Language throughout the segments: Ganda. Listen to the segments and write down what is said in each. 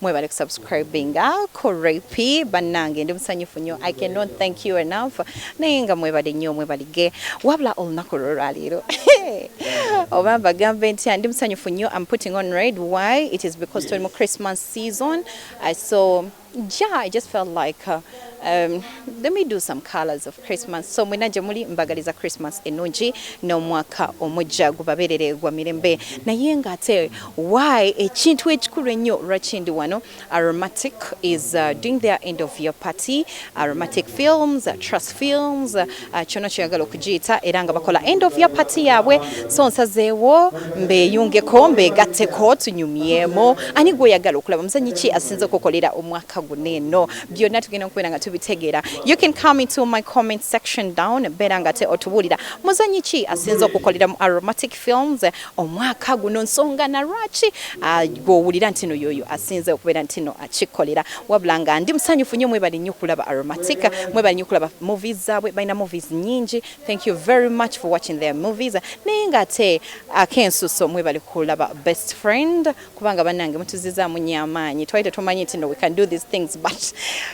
mwebale kusubscribinga ku rap bannange ndi musanyufu nnyo i cannot thank you enough naye nga mwebale nnyo mwebalige wabula olunaku lwolwaleero oba mbagambe nti ndi musanyufu nnyo am putting on red why it is because tuli mu christmas season uh, so yeah i just felt like uh, Um, let me do some colors of Christmas. So mwena gye muli mbagaliza Christmas ennungi n'omwaka omujja gubabeerere gwa mirembe naye nga ate why ekintu ekikulu ennyo lwaki ndi wano aromatic is uh, doing their end of your party aromatic films uh, trust films uh, kyona kyoyagala okugiyita era nga bakola end of your party yaabwe so nsazeewo mbeyungeko mbegatteko tunyumyemu ani gwoyagala okulaba muzanyi ki asinze okukolera omwaka guno eno byonna tugenda okubeera nga tubitegeera you can come into my comment section down beera nga te otubuulira muzanyi ki asinza okukolera mu aromatic films omwaka guno nsonga na lwaki ah, gwowulira nti no yoyo asinze okubeera nti no akikolera wabula nga ndi musanyufu nnyo mwebali nnyo okulaba aromatic mwebali nnyo okulaba movies zaabwe balina movies nyingi thank you very much for watching their movies naye nga ate akensuso mwebali kulaba best friend kubanga banange mutuzizaamu nnyo amaanyi twali tetumanyi nti no we can do these things but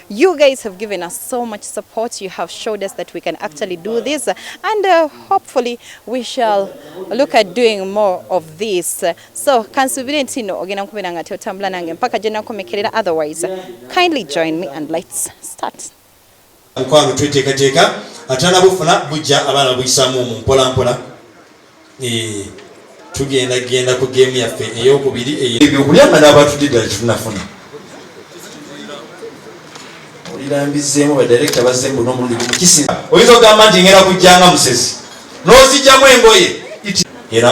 you guys have given us so much support you have showed us that we can actually do this and uh, hopefully we shall look at doing more of this so kansubire nti no ogenda nkubeera nga teotambula nange mpaka gye nakomekerera otherwise kindly join me and let's start mukwano tweteekateeka atanabufuna bujja abaana buyisaamu omu mpolampola eh, tugenda genda ku geemu yaffe eyokubiri ebyokulya nga nabatudde ddala kifunafuna olirambizeemu badirekita bazemu nomulundi gumukisinza oyinza okugamba nti ngenda kujjanga musezi n'ozijjamu engoye era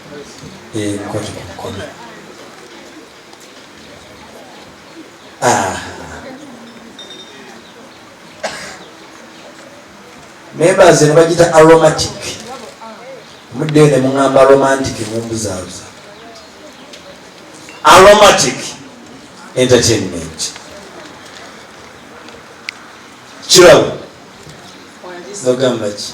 Ngoja kwa mkono. Ah. Memba zino bagita aromatic. Mudde ne mungamba romantic mumbuzabuza. Aromatic entertainment. Kirabo. Nogamba ki?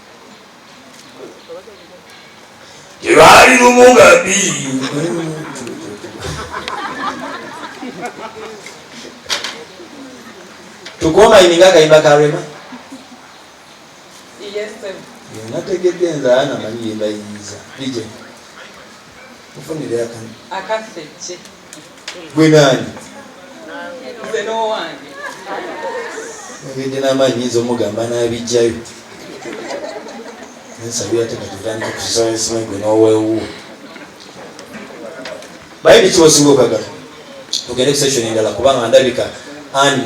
gyebali lumu nga bbiri tukomayininga akayimba ka rema nategedde nzaa namanyi yembayinza ije mufunire akani gwe nani ngende n'amaanyi nyinza omugamba n'abijjayo nsabira te katutandika kusasala esimanyi gwe n'owewuwo baye biki osinga okagala ogende kusession endala kubanga ndabika ani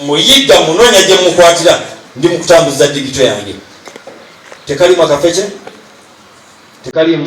muyigga munoonya gye mukwatira ndi mu kutambuza digito yange tekalimu akafece tekalimu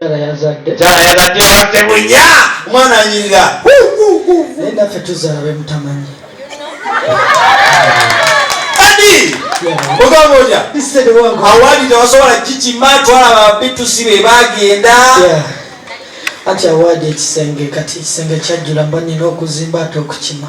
Tara yazadde wabadde bunya omwana anyirira naye naffe tuzala bemutamanyi kadi ogamba otya awali tewasobola kikima twalaba bitusi be bagenda anti awaadi ekisenge kati ekisenge kyajjula mba nina okuzimba ate okukima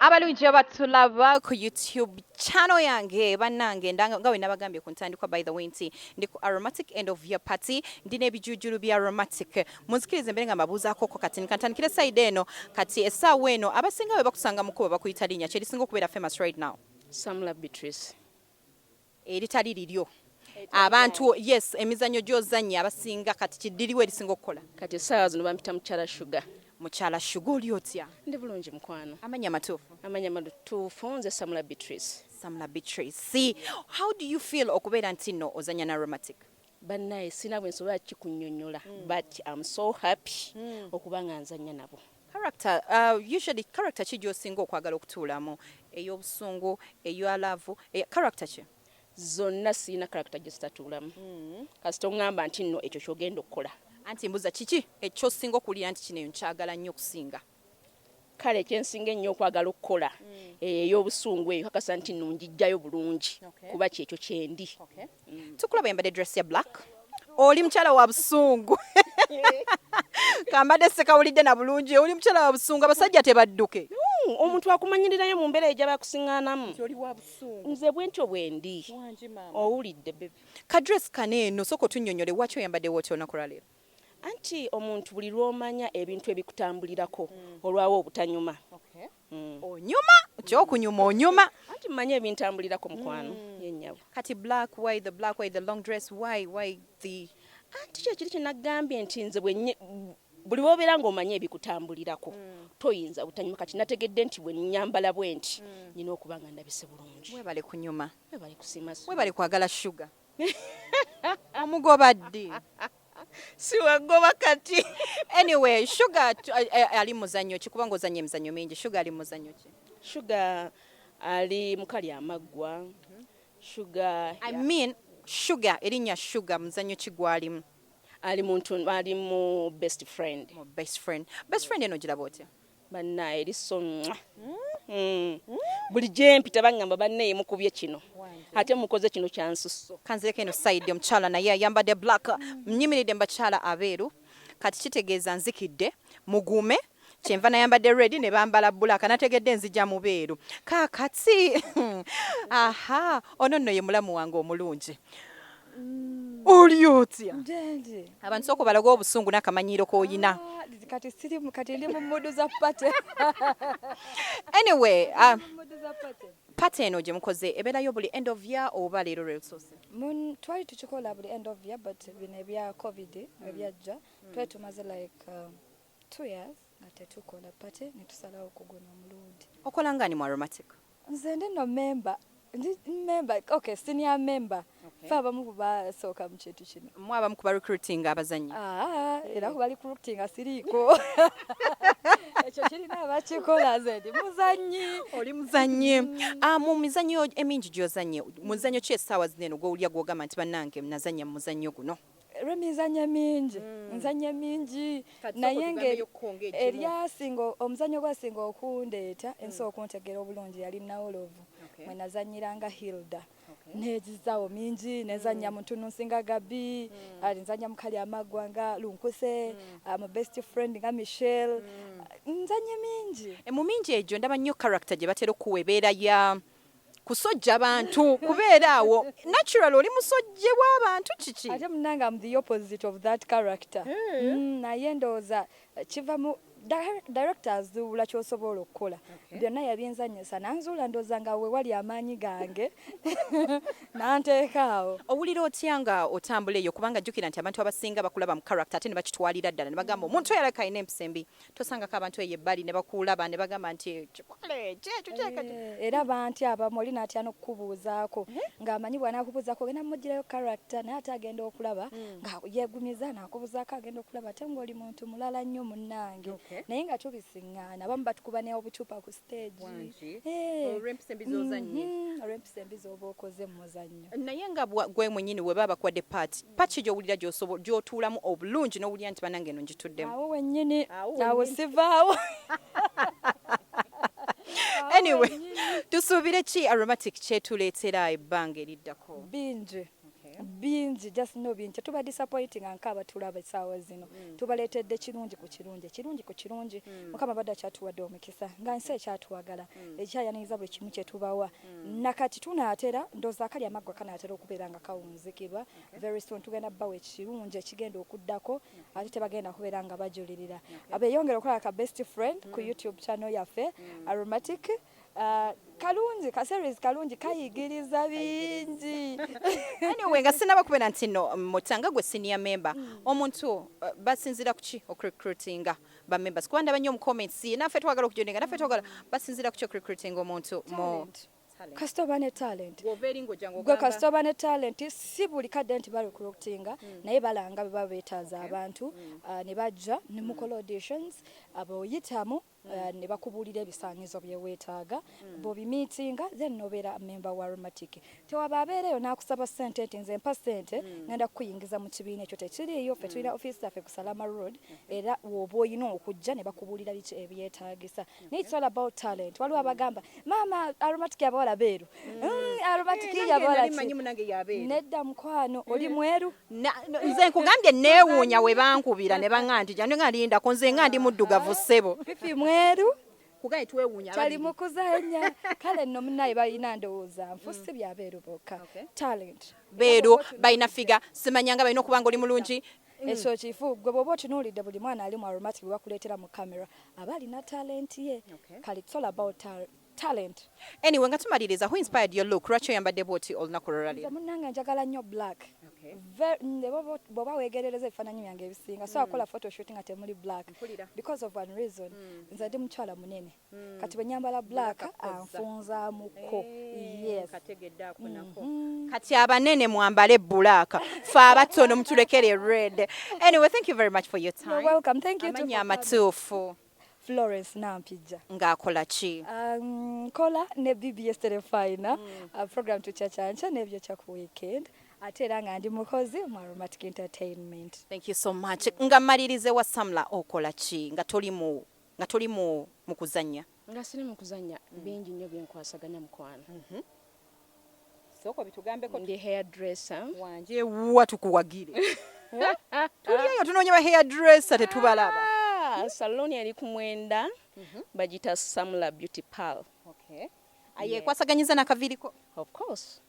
abalungi abatulaba ku youtube channel yange banange nga bwe nabagambye ku ntandikwa by the way nti ndi ku aromatic end of year party ndi n'ebijujulu bya aromatic munzikirize mbere nga mbabuuzaako ko kati nkantandikire side eno kati essaawa eno abasinga bwe bakusanga mukuba bakuyita linnya kyerisinga okubeera famous right now Samula Beatrice eritali liryo abantu yes emizanyo gyozannya abasinga kati kiddiriwo erisinga okukola kati essaawa zino bampita mukyala shuga mukyala shuga oli otya ndi bulungi mukwano amanya amatuufu amanya amatuufu nze samula beatrice samula beatrice how do you feel okubeera nti nno ozanya na romatic Bannaye sina bwe nsobola kikunyonyola mm. but am so happy mm. okuba nga nzanya nabo. Character, uh, usually character ki gy'osinga okwagala okutuulamu ey'obusungu eya laavu character ki zonna sirina character gye zitatuulamu mm. kasita oŋŋamba nti nno ekyo kyogenda okukola anti mbuza kiki ekyosinga okuwulira nti kino eyo nkyagala nnyo okusinga kale kyensinga ennyo okwagala okukola eyo ey'obusungu eyo kakasa nti no njijjayo bulungi kuba kyekyo kyendi mm. tukulaba yambadde dress ya black oli mukyala wa busungu kambadde sekawulidde na bulungi oli mukyala wa busungu abasajja tebadduke mm, omuntu akumanyirirayo mu mbeera eja bakusiŋanamu nze bwentyo bwendi owulidde bebe kadress kano eno soka otunyonyole waki oyambadde woti olunaku lwaleero Anti omuntu buli lw'omanya ebintu ebikutambulirako olwawo obutanyuma. Mm. onyuma kyokunyuma onyuma anti mmanyi ebintambulirako mukwano mm. yenyabo kati black why the black why the long dress why why the anti kyekiri kyenagambye nti nze bwenye buli wobeera ngaomanyi ebikutambulirako mm. toyinza butanyuma kati nategedde nti bwenyambala bwenti mm. nina okuba nga ndabise bulungi webale kunyuma webale kusiima webale kwagala shuga omugoba ddi siwagoba kati anyway shuga eh, eh, ali muzanyo ki kubanga ozanya emizanyo mingi shuga ali muzanyo ki shuga ali mukali amaggwa mhm. shuga i mean shuga erinya shuga muzanyo ki gwalimu ali muntu ali mu best friend mu best friend best friend eno giraba otya Bannaye eri so mwa mm. buli gyempita bangamba bannaye mukubye kino ate mukoze kino kyansusso kanzireko eno side omukyala naye ayambadde black mnyimiridde mubakyala abeeru kati kitegeeza nzikidde mugume kyenva nayambadde red ne bambala bulaka nategedde nzija mubeeru kakati aha ono nno ye mulamu wange omulungi oli otya abantu sooka obalaga obusungu n'akamanyiiro k'olina ah, kati siri kati ndi mu mudu za pate anyway ah, pate eno gye mukoze ebeerayo buli end of year oba leero lwe lusoose twali tukikola buli end of year but bino ebya covid mm. ebyajja mm. twali tumaze like um, two years nga tetukola pate ne tusalawo okugona omulundi okola ngani mu aromatic nze ndi no member ndi member okay senior member okay. fe abamu kubasooka mu kintu kino mwe abamu kuba recruiting abazanyi ah, era kuba recruiting asiriiko ekyo kirina abakikola nze ndi muzanyi oli muzanyi mm. ah, mu mizanyo emingi gyozanye muzanyo ki essaawa zino eno gwowulya gwogamba nti bannange nazanya mu muzanyo guno Remy nzanya mingi mm. nzanya mingi naye ngeri eryasinga omuzanyo gwasinga okundeeta mm. ensi okuntegera obulungi yali nawolovu okay. mwe nazanyiranga hilda okay. negizawo mingi nezanya mm. muntu nunsinga gabi mm. ali nzanya mukali amagwa nga lunkuse mm. Ah, mu best friend nga michelle mm. nzanye mingi e, mu mingi egyo ndaba nnyo character gye batera okuwa ebeera ya kusojja bantu kubeera awo natural oli musojje wa bantu kiki ate munange am the opposite of that character eh. mm, naye ndowooza eh, kiva mu director azuula kyosobola okukola byonna yabyenzanyisa nanzuula ndooza nga wewali amaanyi gange nanteekaawo owulira otya nga otambula eyo kubanga jjukira nti abantu abasinga bakulaba mu character ate ne bakitwalira ddala ne bagamba omuntu oyo alabika alina empisa embi tosangako abantu eyo ebbali ne bakuulaba ne bagamba nti kikole kyekyo kyeka eh, era banti abamu oli n'atya n'okukubuuzaako eh? ng'amanyi bw'anaakubuuzaako ogenda mugirayo character naye ate agenda okulaba hmm. nga yeegumiza naakubuuzaako agenda okulaba ate ng'oli muntu mulala nnyo munnange naye nga tubisiŋŋaana abamu batukuba neobucupa ku olw'empisa embi zozannye mhm, olw'empisa embi z'oba okoze mu muzannyo naye nga gwe mwenyini we baba bakuwadde paati paati ki gy'owulira gy'otuulamu obulungi n'owulira nti banange eno ngituddemu awo wennyini awo sivaawo anyway tusuubire ki aromatic kyetuleetera ebbanga eriddako bingi bingi just know bingi tuba disappointing anka abatulaba esaawa zino mm. tubaleetedde kirungi ku kirungi ekirungi ku kirungi mm. mukama badde akyatuwadde omukisa nga nsi ekyatwagala mm. ekyayaniriza buli kimu kyetubawa mm. nakati tunaatera ndoozi akali amaggwa kanaatera okubeera nga kawunzikibwa okay. very soon tugenda bawa ekirungi ekigenda okuddako okay. ate tebagenda kubeera nga bajulirira okay. abeyongera okulaba ka best friend mm. ku youtube channel yaffe mm. aromatic Ah, kalungi ka series kalungi kayigiriza bingi anyway nga sinaba kubeera nti no mutanga gwe senior member hmm. omuntu uh, basinzira kuki okurecruitinga ba members kuba ndaba nnyo mu comments ye naffe twagala okujoninga naffe twagala basinzira kuki okurecruitinga omuntu mu kasita oba ne talent gwe kasita oba ne talent si buli kadde nti barecruitinga hmm. naye balanga bwe baba beetaaza abantu hmm. uh, ne bajja ne mukola auditions aboyitamu mm. uh, ne bakubuulira ebisaanyizo bye weetaaga mm. bw'obimiitinga then nobeera memba wa romatic tewaba abeera eyo n'akusaba ssente nti nze mpa ssente mm. ngenda kukuyingiza mu kibiina ekyo tekiriiyo ffe tulina ofiisi zaffe ku salama road mm-hmm. era woba olina okujja ne bakubuulira biki ebyetaagisa mm-hmm. naye it's all about talent waliwo abagamba maama aromatic abawala beeru nedda mukwano mm. oli mweru nze nkugambye neewuunya we bankubira ne baŋa nti jano nga lindako nze nga ndi muddugavu ah. ssebo pipi mweru kugaye twewuunya kyali mukuzanya kale nno munaye balina ndowooza nfu mm. si byabeeru bokka talent beeru balina figa simanyanga balina okuba nga oli mulungi Mm. ekyo kifu gwe bwoba otunuulidde buli mwana ali mu aromatic gwe bakuleetera mu camera aba alina talenti ye kale it's all about talent anyway nga tumaliriza who inspired your look lwaki oyambadde bwoti olunaku lwolwaliro munange njagala nnyo black bwoba wegerereza ebifaananyi byange ebisinga so akola mm. photoshoot nga temuli black because of one reason mm. nze ndi mukyala munene mm. kati bwenyambala black anfunzamuko eh, yes mm-hmm. kati abanene mwambale bulaaka fe abatono mutulekere red anyway thank you very much for your time amatuufu Florence Nampijja. Ng'akola ki? Nkola ne BBS Terefayina program tukyacanca n'ebyokya ku weekend ate era nga ndi mukozi mu Aromatic Entertainment. Thank you so much. Nga mmaliriza ewa Samla okola ki nga toli mu nga toli mu mu kuzannya? Nga siri mu kuzannya bingi nnyo bye nkwasaganya mukwano. soko bitugambeko ndi hair dresser wanje wa tukuwagire tuliyo tunonye ba hair dresser tetubalaba ah, salon yali kumwenda mm -hmm. bajita samula beauty pal okay ayekwasaganyiza yeah. nakaviriko of course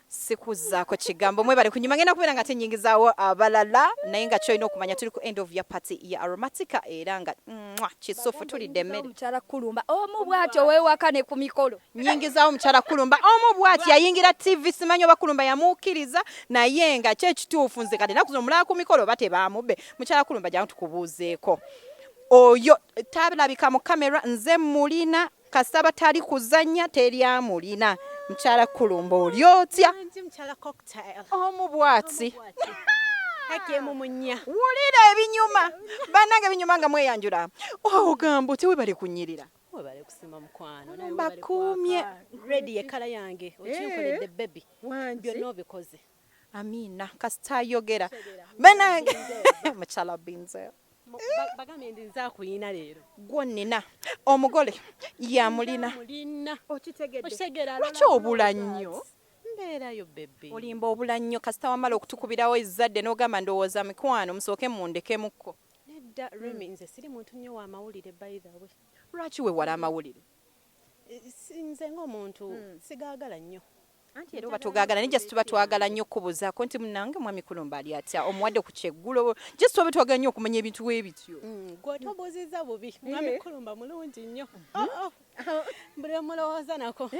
sikuzaako kigambo mwebale kunyuma ngenda kubeera nga tenyingizaawo abalala naye nga kyolina okumanya tuli ku end of ya party ya aromatica era nga mwa kisufu tulidde emmere omukyala kulumba omu bwatyo wewaka ne ku mikolo nyingizawo mukyala kulumba omu bwati yayingira tv simanyi oba kulumba yamuukiriza naye nga kyekituufu nze kati naku zino mulaba ku mikolo oba tebaamubbe mukyala kulumba jangu tukubuuzeeko oyo talabika mu kamera nze mulina kasaba tali kuzannya teri amulina mukyala kulumba oli otya omu bwati hakemumunya wulira ebinyuma banange binyuma nga mweyanjula ogamba oh, otya webali kunyirira webale kusima mukwano naye mbakumye red ye kala yange eh? okinkoledde baby byonna obikoze amina kasita ayogera banange mukyala binze bagambye ndi nze akuyina leero gwonnina omugole yamulina okitegedde lwaki obula nnyo mbeerayo bebe olimba obula nnyo kasita wamala okutukubirawo ezzadde n'ogamba ndowooza mikwano musooke mundekemukko Nedda Remy nze siri muntu nnyo wa mawulire by the way. Lwaki wewala amawulire? Nze ng'omuntu sigaagala nnyo. Anti era oba togaagala naye just tuba twagala nnyo okukubuuzaako nti munnange mwami Kulumba ali atya omuwadde ku kyeggulo just tuba twagala nnyo okumanya ebintu bwe bityo. Gwe otobuuzizza bubi mwami Kulumba mulungi nnyo. Oh, oh. mbulomulowooza nako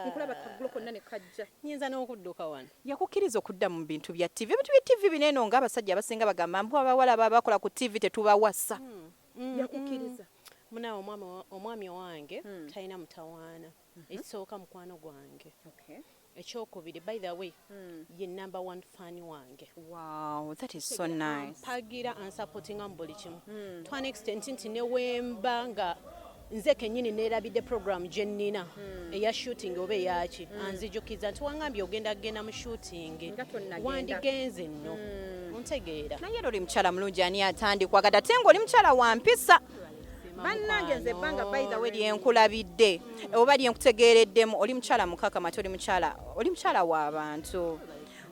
nkulaba kagulo konna ne kajja nyinza n'okudduka wano yakukkiriza okudda mu bintu bya ttivi ebintu bya ttivi bino eno ng'abasajja abasinga bagamba mbu abawala baba bakola ku ttivi tetubawasa hmm, hmm, yakukkiriza hmm. munawe omwami owange talina mutawaana ekisooka mukwano gwange Ekyokubiri by the way ye number one fan wange. Wow, that is so nice. Ampagira and supporting am buli kimu. Hmm. To an extent nti ne wemba nga nze kenyini nerabidde program gye nnina hmm. eya shooting oba eyaki hmm. anzijukiza nti wangambye ogenda kugenda mu shooting wandigenze nno ontegeera naye era oli mukyala mulungi ani atandikwagadde ate ngaoli mukyala wa mpisa bannange nze ebbanga by the way lyenkulabidde oba lyenkutegeereddemu oli mukyala mukakama ate oli mukyala oli mukyala w'abantu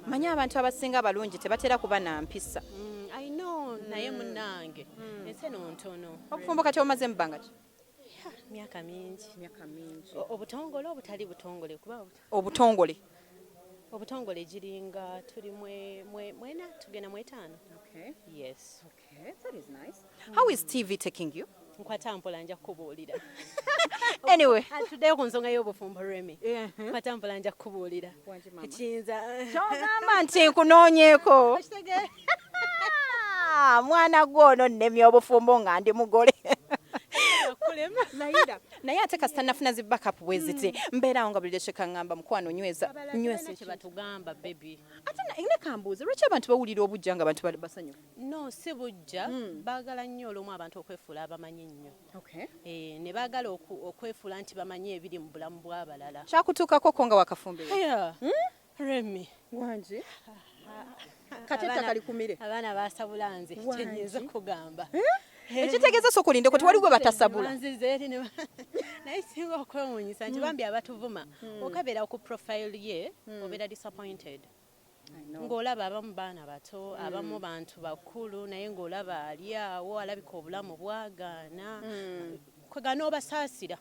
manyi abantu abasinga abalungi tebatera kuba na mpisa mm, naye munange mm. ensi eno ntono obufumbo kati omaze mu bbanga ki myaka mingi myaka mingi obutongole obutali butongole kuba obutongole obutongole giringa tuli mwena tugenda mwetaano yes Eh, that is nice. How is TV taking you? nkwata mpola nja kukubuulira anyway tuddeyo ku nsonga y'obufumbo remy nkwata mpola nja kukubuulira ekiyinza kyogamba nti nkunoonyeeko ah, mwana gwe ono nnemya obufumbo nga ndi mugole naye ate kasita nafuna zi backup bwe ziti hmm. mbeerawo nga buli lwekyo kaŋŋamba mukwano nyweza nyweza kye batugamba bebi ate ne kambuuze lwaki abantu bawulira obujja nga abantu basanyufu No si bujja hmm. baagala nnyo olumu abantu okwefuula abamanyi nnyo eh, ne baagala okwefuula nti bamanyi ebiri mu bulamu bw'abalala. Kyakutuukako ko nga wakafumbirwa? Hmm? Remi wangi kati ettaka likumire abaana basabula nze kyenyinza okugamba eh? ekitegeeza soka olinde koti wali gwe batasabula naye singa okwewunyisa nti hmm. bambi abatuvuma hmm. okabeera ku profile ye obeera disappointed ng'olaba abamu baana bato mm. abamu bantu bakulu naye ng'olaba ali awo alabika obulamu bwagaana mm. kwega n'obasaasira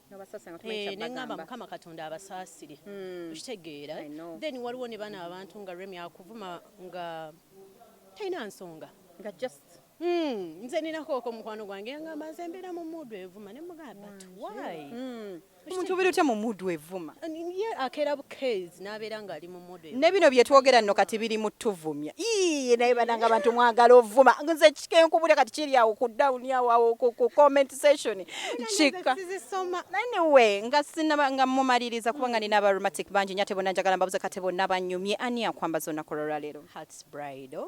eh, neŋamba mukama katonda abasaasire mm. okitegeera then waliwo ne bana abantu nga remi akuvuma nga talina nsonga Hmm, nze nina kooko mukwano gwange yangamba nze mbeera mu muudu evuma ne mugamba but why hmm. omuntu obeera otya mu muudu evuma ye akeera bukezi n'abeera ng'ali mu muudu ne bino bye twogera nno kati biri mu tuvumya iye naye bananga abantu mwagala ovuma nze kikenkubule kati kiri awo ku dawuni awo awo ku comment session kika anyway nga sinaba nga mumaliriza kubanga nina aba romantic bangi nyo ate bona njagala mbabuze kate bonna banyumye ani akwambaza olunaku olwalwaleero hearts bridal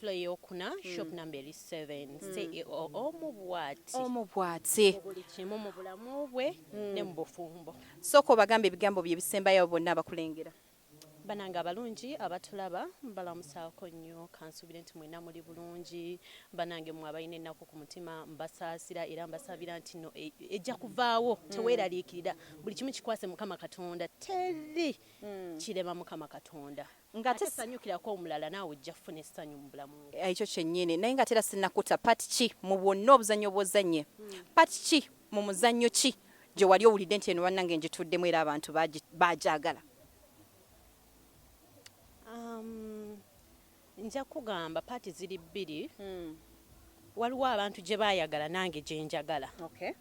Floor eyokuna shop mm. number eri 7 mm. CEO omu bwati omu bwati buli kimu mu bulamu bwe mm. ne mu bufumbo soko bagamba ebigambo bye bisembayo bonna abakulengera banange abalungi abatulaba mbalamusaako nnyo kansubire nti mwena muli bulungi banange mwe abalina ennaku ku mutima mbasaasira era mbasabira nti no e, ejja kuvaawo mm. teweeraliikirira buli kimu kikwase mukama katonda teri mm. kirema mukama katonda Nga ate sanyukirako omulala naawe ojja kufuna essanyu mu bulamu bwo. Ekyo kyennyini. Naye nga ate era sinnakuta part ki mu bwonna obuzannyo bw'ozannye? Part ki mu muzannyo ki gye wali owulidde nti eno bannange ngituddemu era abantu baagi, bagyagala? Um, nja kukugamba paati ziri bbiri. Waliwo abantu gye baayagala nange gye njagala. Okay.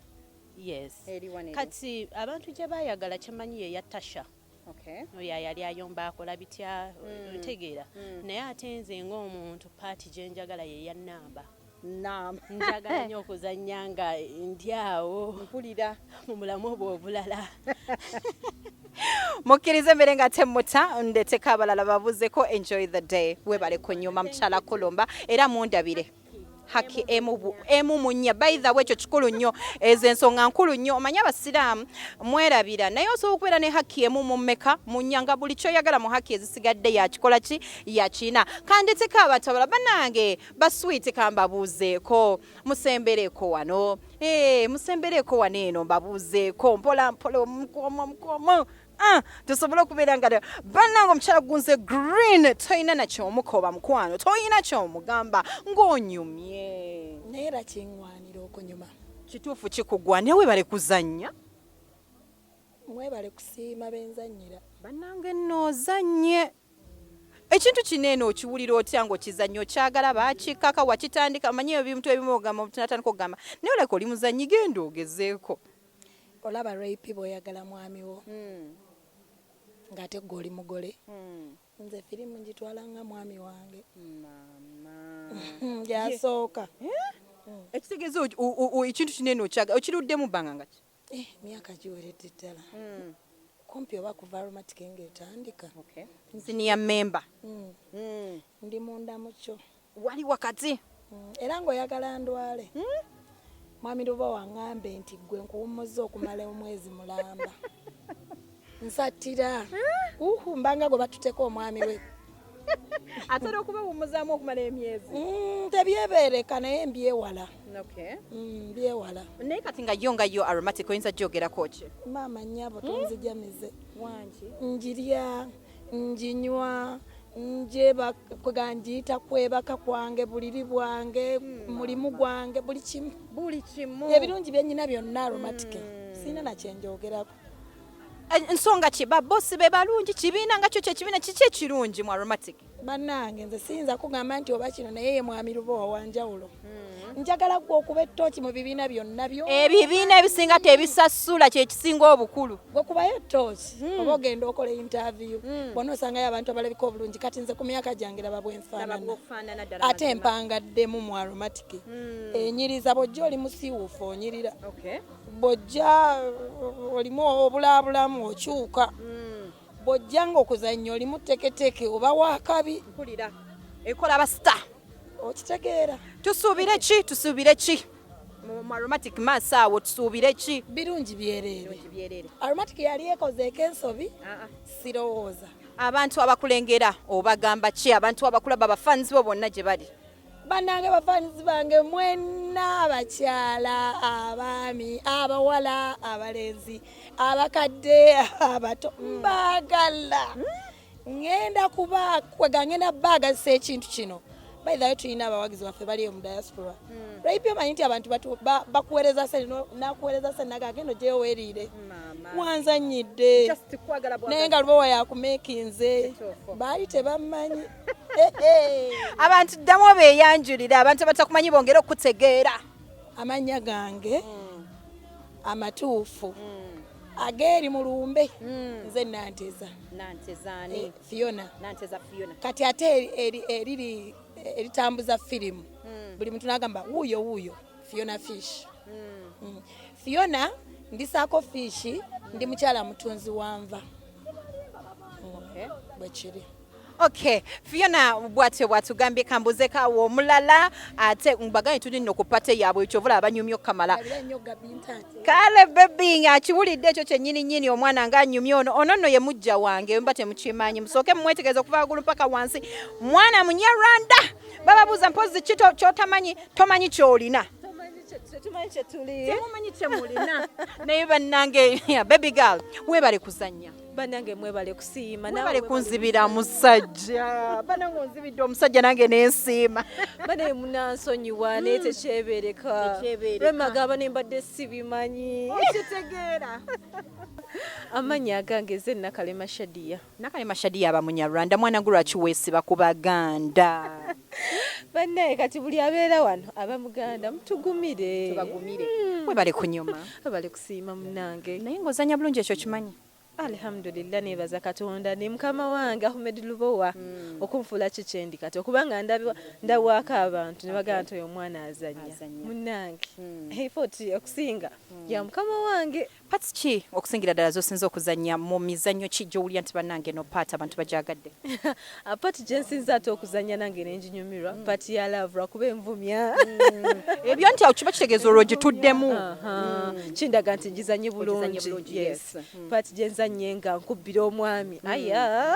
Yes. Eri wano eri. Kati abantu gye baayagala kye mmanyi ye ya Tasha. Okay. oyo ayali ayomba akola bitya mm. ntegeera mm. naye ate nze ng'omuntu paati gye njagala ye ya nnamba nam njagala nnyo okuzannya nga ndi awo mpulira mu mulamu obwo obulala mukkirize mbere nga temmuta ndeteka abalala babuzeko enjoy the day webale kunyuma mukyala kulumba era mundabire haki emu emu munya by the way ekyo kikulu nnyo ezo ensonga nkulu nnyo omanyi abasiraamu mwerabira naye osobola okubeera ne haki emu mu mmeka munya nga buli kyoyagala mu haki ezisigadde yakikola ki yakina kanditiko abatabala banange baswiiti kambabuuzeeko musembereeko wano ee eh, musembereeko wano eno mbabuuzeeko mpola mpola omukomo omukomo Ah, tusobole okubeera nga bannanga omukyala gunze green tolina nakyomukoba mukwano tolina kyomugamba ng'onyumye naye era kiŋwanira okunyuma kituufu kikugwa naye webale kuzannya mwebale kusiima benzannyira bannange nno ozannye ekintu kino eno okiwulira otya nga okizannya okyagala bakikaka wakitandika manyi ebintu ebimu ogamba omutu natandika okugamba naye oleka oli muzannyi genda ogezeeko olaba rayp bwoyagala mwami wo hmm. ngate gwe oli mugole hmm. nze firimu ngitwala nga mwami wange gyasooka eh? hmm. ekitegeeza ekintu kinene okyaga okiruddemu bbanga ngaki eh, myaka giweredde ddala kumpi oba kuva aromatic nga etandika siniya memba ndi munda mukyo wali wakati mm, era ng'oyagala ndwale hmm? mwami luba wang'ambe nti ggwe nkuwummuzza okumala omwezi mulamba nsattira hmm? uhu mbanga gwe batuteko omwami we atera okubawummuzaamu okumala emyezi hmm, tebyebeereka naye mbyewala mbyewala naye kati nga yo nga yo aromatic oyinza gyogerako ki maama nnyabo tonzijamize wangi njirya njinywa njeba kwega njiyita kwebaka kwange buliri bwange hmm. mulimu gwange buli kimu buli kimu ebirungi byenyina byonna aromatike hmm. sirina nakyenjogerako eh, nsonga ki babosi be balungi kibiina nga kyo kyekibiina kiki ekirungi mu aromatic bannange nze siyinza kugamba nti oba kino naye ye mwami lubowa wanjawulo hmm. njagala gwe okuba ettooki mu bibiina byonna byo ebibiina ebisinga tebisasula kyekisinga obukulu gwe kubayo ettooki hmm. oba ogenda okola intaviyu hmm. bona osangayo abantu abalabika obulungi kati nze ku myaka gyange laba bwenfaanana ate empangaddemu mu aromatiki enyiriza bwojja oli musiiwuufu onyirira bwojja olimu obulaabulamu okyuka bw'ojjanga okuzannya olimu teketeke oba wakabi mpulira ekola abasita okitegeera tusuubire ki tusuubire ki mu aromatic mass awo tusuubire ki birungi byereere aromatic yali ekozeeko ensobi ah, ah. sirowooza abantu abakulengera obagamba ki abantu abakulaba bafanzi bo bonna gye bali banange bafanizi bange mwena abakyala abaami abawala abalenzi abakadde abato hmm. mbagala ngenda kuba kwega ngenda baagazisa ekintu kino baithawe tulina abawagizi baffe bali mu diaspora hmm. raipi omanyi nti abantu bakuwereza se nakuwereza se naga agenda ojeyo weriire wanzanyidde naye nga lubowa yakumekinze baali tebamanyi abantu ddamu obeeyanjulire abantu abatakumanyi bongere okukutegeera amannya gange hmm. amatuufu hmm. ageeri mu lumbe hmm. nze nanteza eh, fiona kati ate eriri eritambuza firimu buli muntu nagamba wuuyo wuuyo fiona fish fiona ndisaako fiishi ndi mukyala mutunzi wanva bwekiri Okay, Fiona bwatyo bwatugambye kambuze ka wo mulala ate mbaganye tuli no kupate yabo ekyo vula abanyumyo kamala. Kale baby nga kiwulidde ekyo kye nyini nyini omwana nga nyumyo ono ono no ye mujja wange mbate mukimanyi musoke mwetegezo kuva gulu paka wansi mwana munya Rwanda baba buza mpozi kito chotamanyi tomanyi cholina Tumanyi chetuli. Tumanyi chemulina. Naye banange baby girl webale kuzanya. banange mwebale kusiima mwebale kunzibira musajja banange onzibidde omusajja nange nensiima banaye munansonyiwa hmm. naye tekyebereka lwemagamba ne mbadde sibimanyi kitegeera amanyi agange ze nakalema shadiya nakalema shadiya aba munyarwanda mwana gwe lwaki weesiba ku baganda banaye kati buli abeera wano aba muganda mutugumire tubagumire mwebale kunyuma Siima munange. Naye nga ozanya bulungi ekyo okimanyi. Alhamdulillah nebaza katonda ne mukama wange Ahmed Lubowa mm. okunfuula ki kyendi kati okuba nga ndawaako abantu ne bagamba nti oyo omwana azanya munange mm. efoti okusinga mm. ya mukama wange pati ki okusingira ddala zosinza okuzanya mu mizanyo ki gyowulira nti banange no paati abantu bagyagadde Ah, part gyensinza ate okuzanya nange nenjinyumirwa mm. part ya love lwakuba envumya mm. ebyo nti awo kiba kitegeeza olwo gituddemu mm. kindaga nti njizanye bulungi part gyenzanye nga nkubbira omwami aya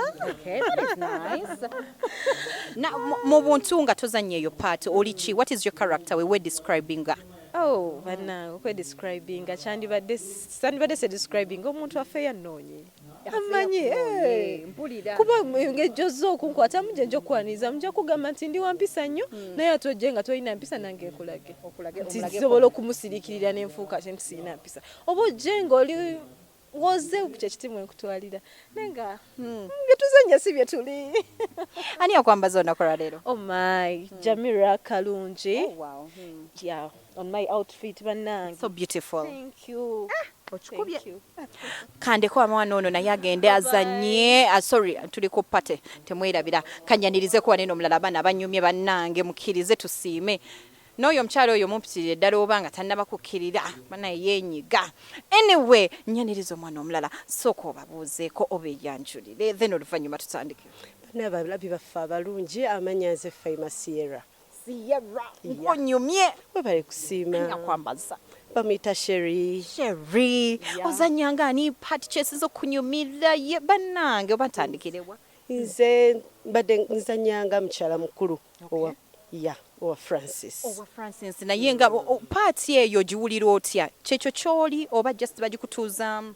mu buntu nga tozanya eyo part oli ki what is your character we were describing nga oh, banange okwedescribinga kyandibadde sandibadde se describinga omuntu affe yanoonye amanyi eh. kuba ngejjo zze okunkwatamu gye nja okukwaniriza muja kugamba nti ndi wampisa nnyo hmm. naye ate ojje nga tolina mpisa nange nkulage nti nsobola okumusirikirira nenfuuka kye nti sirina mpisa oba ojje ngaoli woze kyekiti mwenkutwalira naye nga hmm. byetuzenya si byetuli ani akwambaza olunaku lwaleero omai oh hmm. jamira kalungi oh, on my outfit banange so beautiful thank you ah, okikubye kandeko amwana ono naye agende azanye ah, sorry tuli ku party temwerabira kanyanirize kuwa neno omulala abaana banyumye banange mukirize tusiime n'oyo omukyalo oyo mumpitirire ddala oba nga tannaba kukkirira banaye yenyiga anyway nyaniriza omwana omulala sooka obabuuzeeko oba eyanjulire then oluvannyuma tutandike bana abalabi baffe abalungi amanya nze faima sierra Sierra nkunyumye webale kusiima nyakwambaza bamuyita sheri sheri yeah. ozanyanga ani part kyesiza okunyumira ye banange oba ntandikirewa nze mbadde nzanyanga mukyala mukulu okay. owa ya owa francis owa francis naye nga paati eyo giwulira otya kyekyo kyoli oba just bagikutuuzaamu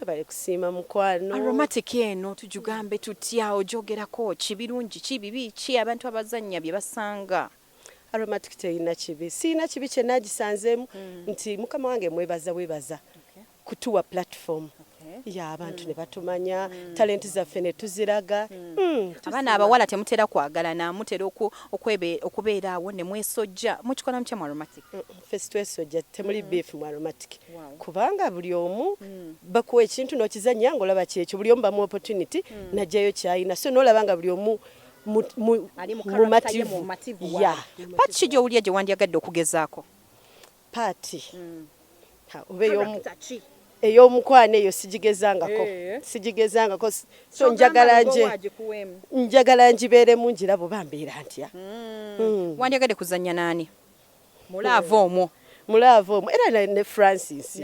Webale kusiima mukwano. Aromatic eno tujugambe tutya ojogerako ki birungi ki bibi ki abantu abazannya bye basanga. Aromatic teyina kibi siyina kibi kyenagisanzemu mm. nti mukama wange mwebaza bwebaza okay. kutuwa platform okay. Eh? ya abantu ne batumanya mm. talenti zaffe ne tuziraga mm. mm, abaana abawala temutera kwagalana mutera okubeera awo ne mwesojja mukikola mutya mu aromatic ffe sitwesojja temuli mm. beef mu aromatic kubanga buli omu mm. bakuwa ekintu nokizanya nga olaba kyekyo buli omu bamu opportunity mm. najjayo kyayina so nolaba nga buli omu mumativu ya paati ki gyowulira gye wandyagadde okugezaako paati oba eyomu ey'omukwano eyo sigigezangako eh. sigigezangako so njagala nje njagala njibeeremu njirabo bambeera ntya hmm. Hmm. wandyagadde kuzannya naani mulaava omwo mulaava omwo era ne francis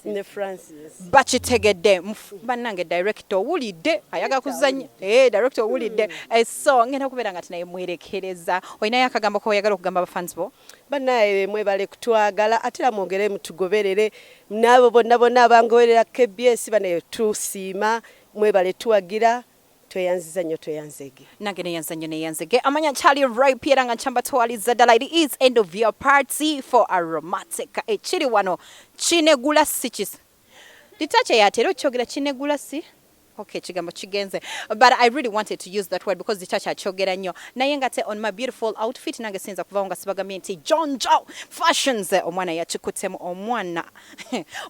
ne francis bakitegedde bannange directo owulidde ayaga kuzanya eh, directo owulidde hmm. eh, so ngenda kubeera nga tinaye mwerekereza olinayo akagambo koyagala okugamba bafans bo banaye mwebale kutwagala ate era mwongere mutugoberere naabo bonna bonna abangoberera kbs banaye tusiima mwebale tuwagira tweyanziza nyo tweyanzege nange neyanza nyo neyanzege amanya kyali rip era nga nkyamba twaliza dala it is end of your party for aromatic ekiri wano kinegula sikis litache yatera okyogera kinegula si Okay, kigambo kigenze but I really wanted to use that word because the church akyogera nnyo naye nga te on my beautiful outfit nange siyinza kuvawo nga sibagambye nti John Joe fashions omwana yakikutemu omwana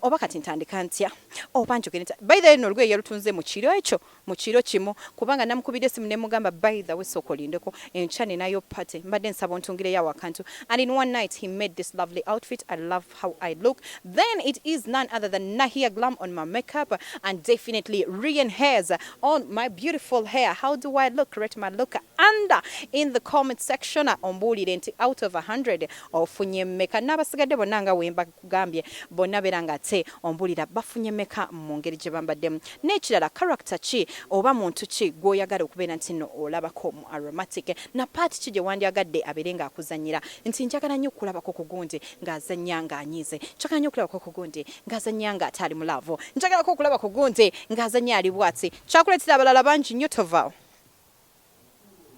oba kati ntandika ntya oba njogere ntya by the way no olugoye yalutunze mu kiro ekyo mu kiro kimu kubanga namukubidde essimu ne mugamba by the way sooka olindeko enkya ninayo party mbadde nsaba ontungireyo awo akantu and in one night he made this lovely outfit i love how i look then it is none other than nahia glam on my makeup and definitely rian hairs on my beautiful hair how do i look rate my look under in the comment section ombuulire nti out of 100 ofunye meka n'abasigadde bonna nga wemba Nkugambye bonna beera nga ate ombulira bafunye meka mu ngeri gye bambaddemu. N'ekirala character ki oba muntu ki gw'oyagala okubeera nti nno olabako mu Aromatic? Na part ki gye wandyagadde abeere nga akuzannyira? Nti njagala nnyo okukulabako ku Gundi ng'azannya ng'anyiize. Njagala nnyo okulabako ku Gundi ng'azannya ng'ate ali mu laavu. Njagalako okulaba ku Gundi ng'azannya ali bwati. Kyakuleetera abalala bangi nnyo tovaawo.